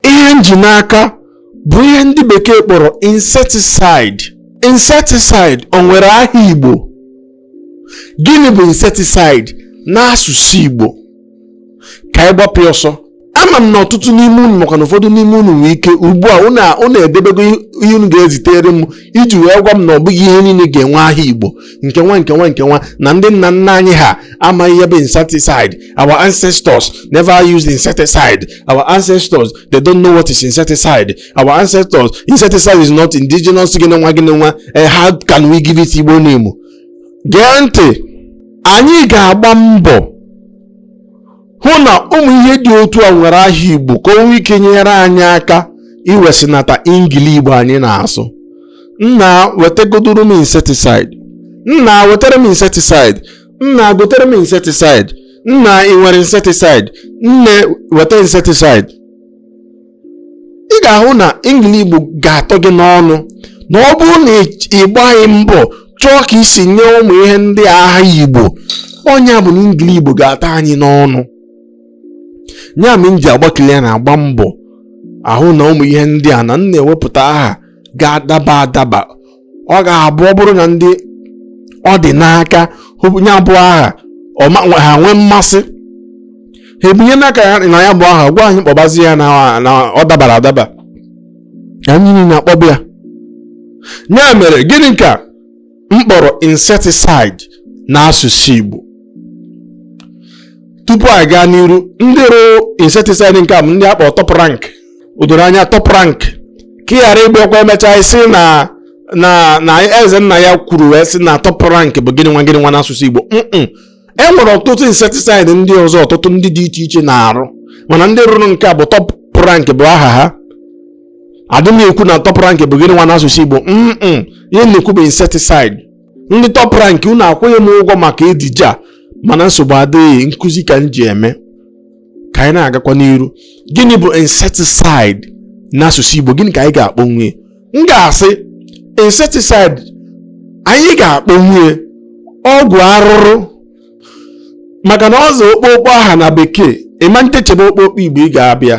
ihe m ji n'aka bụ ihe ndị bekee kpọrọ insecticide insecticide o nwere aha igbo gịnị bụ insecticide n'asụsụ igbo ka anyị gbapụ ọsọ ama m na ọtụtụ n'ime unu maka na ụfọdụ n'ime unu nwee ike ugbu a unu edebego ihe unu ga-ezitere m iji wee gwa m na ọ bụghị ihe niile ga-enwe aha igbo nke nwa nke nwa nke nwa na ndị nna nna anyị ha amaghị ihe bụ insecticide our ancestors never used insecticide our ancestors they don't know what is insecticide our ancestors insecticide is not indigenous gịnị nwa gịnị nwa eh, how can we give it igbo name gee ntị anyị ga-agba mbọ hụ na ụmụ ihe dị otu a nwere aha Igbo ka o nwee ike nyere anyị aka iwesịnata ingili Igbo anyị na-asụ nna wetagodoro m insecticide nna wetara m insecticide nna gotere m insecticide nna ị nwere insecticide nne weta insecticide ị ga-ahụ na ingili igbo ga-atọ gị n'ọnụ na ọ bụrụ na ị gbaghị mbọ chọọ ka i si nye ụmụ ihe ndị a aha igbo ọ nya bụ na ingili igbo ga-atọ anyị n'ọnụ nya mere m ji agbakili ya na-agba mbọ ahụ na ụmụ ihe ndị a na m na-ewepụta aha ga-adaba adaba ọ ga-abụ ọ bụrụ na ndị ọ dị n'aka nya bụ aha ha nwee mmasị ha ebinye n'aka ya na ya bụ aha gwa anyị kpọbazi ya na ọ dabara adaba anyị niile akpọba ya ya mere gịnị ka m kpọrọ insecticide n'asụsụ Igbo tupu anyị gaa n'iru ndị rụ insecticide nke a bụ ndị a kpọ top rank o doro anya top rank ka ị ghara ịbịakwa e mechaa ị sị na na na ezennaya kwuru wee sị na top rank bụ gịnị nwa gịnị nwa n'asụsụ igbo mm e nwere ọtụtụ insecticide ndị ọzọ ọtụtụ ndị dị iche iche na-arụ mana ndị rụrụ nke a bụ top rank bụ aha ha adị m ekwu na top rank bụ gịnị nwa n'asụsụ igbo mm ihe m na-ekwu bụ insecticide ndị top rank unu akwụghị m ụgwọ maka ejije a mana nsogbu adịghị nkụzi ka m ji eme ka anyị na-agakwa n'iru gịnị bụ insecticide n'asụsụ Igbo gịnị ka anyị ga-akpọnwu ya m ga-asị insecticide anyị ga-akpọnwu ya ọgwụ arụrụ maka na ọzọ ọkpụkpọ aha na bekee ị manite chebe ọkpụkpọ Igbo ị ga-abịa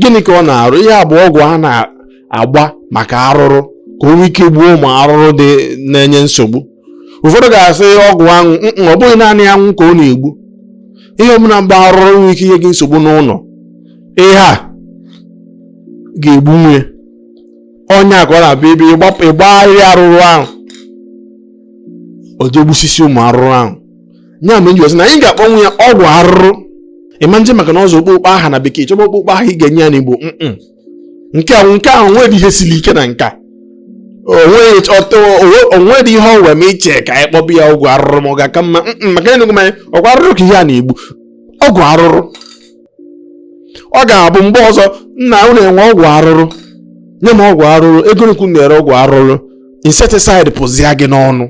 gịnị ka ọ na-arụ ihe a bụ ọgwụ a na-agba maka arụrụ ka o nwee ike gbuo ụmụ arụrụ dị na-enye nsogbu ụfọdụ ga-asị ọgwụ anwụ ọ bụghị naanị anwụ ka ọ na-egbu ihe ọbụla mgbe arụrụ nwere ike inye gị nsogbu n'ụlọ ihe a ga-egbunwu ya onye a ka ọ na-abịa ebe ịgbagharị arụrụ ahụ o jee gbusisia ụmụ arụrụ ahụ nya mere m ji wee sị na anyị ga-akpọnwu ya ọgwụ arụrụ ị ma eje maka na ọ za okpokpo aha na bekee chọba okpokpo aha ị ga-enye ya n'igbo nke a nke a o nwere ihe siri ike na nke a o nwedị ihe ọwe ma iche ka anyị kpọba ya ọgwụ arụrụ ma ọ ga-aka mma maka enugwu m anyị ọgwụ arụrụ ka ihe a na-egbu ọgwụ arụrụ ọ ga-abụ mgbe ọzọ nna unu enwe ọgwụ arụrụ nye m ọgwụ arụrụ ego one ka unu na-ere ọgwụ arụrụ insecticide pụzia gị n'ọnụ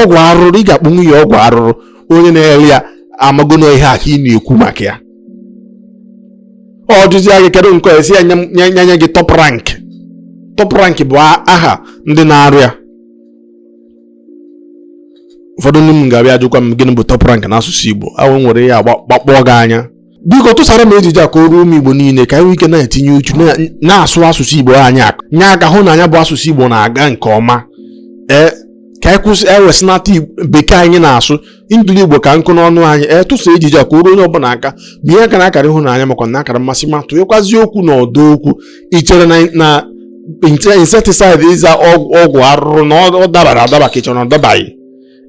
ọgwụ arụrụ ị ga-akpọnwu ya ọgwụ arụrụ onye na-ere ya amago na ihe a ka ị na-ekwu maka ya ọ jụzia gị kedu nke ị sị ya nye gị top rank top rank bụ aha ndị na-arụ ya ụfọdụ ndị m ga-abịa ajụkwa m gịnị bụ top rank n'asụsụ Igbo ahụ nwere ya gbakpọọ gị anya biko tụsara m ejije a ka o ruo ụmụ Igbo niile ka anyị nwee ike na-etinye uchu na-asụ asụsụ Igbo anyị aka nye aka hụ na nya bụ asụsụ Igbo na-aga nke ọma ee ka anyị kwụsị ewesịnata bekee anyị na-asụ ingili igbo ka nkụ n'ọnụ anyị ị tụsa ejije a ka o ruo onye ọbụla aka ma ihe akara akara ịhụnanya makwa na akara mmasị ma tụnyekwazi okwu n'ọdọ okwu i chere na insecticide ịza ọgwụ arụrụ na ọ dabara adaba ka i chere na ọ dabaghị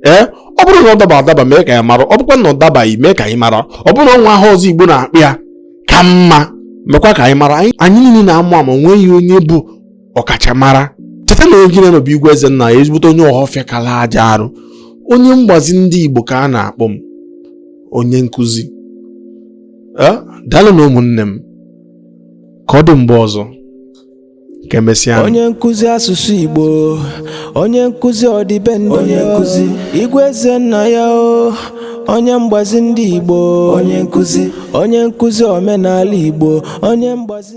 ee ọ bụrụ na ọ dabara adaba mee ka anyị mara ọ bụkwa na ọ dabaghị mee ka anyị mara ọ bụrụ na o nwee aha ọzọ igbo na-akpọ ya ka mma mekwa ka anyị mara anyị niile na-amụ amụ o nweghị onye bụ ọkachamara cheta na onye gị na ya nọ bụ Igwe Ezennaya ezigbote onye ọhọfịa kala aja arụ onye mgbazi ndị Igbo ka a na-akpọ m onye nkụzi eh, daalụnụ ụmụnne m ka ọ dị mgbe ọzọ ka emesịa onye nkụzi asụsụ Igbo onye nkụzi ọdịbendị onye nkụzi Igwe Ezennaya o onye mgbazi ndị Igbo onye nkụzi onye nkụzi omenala Igbo onye mgbazi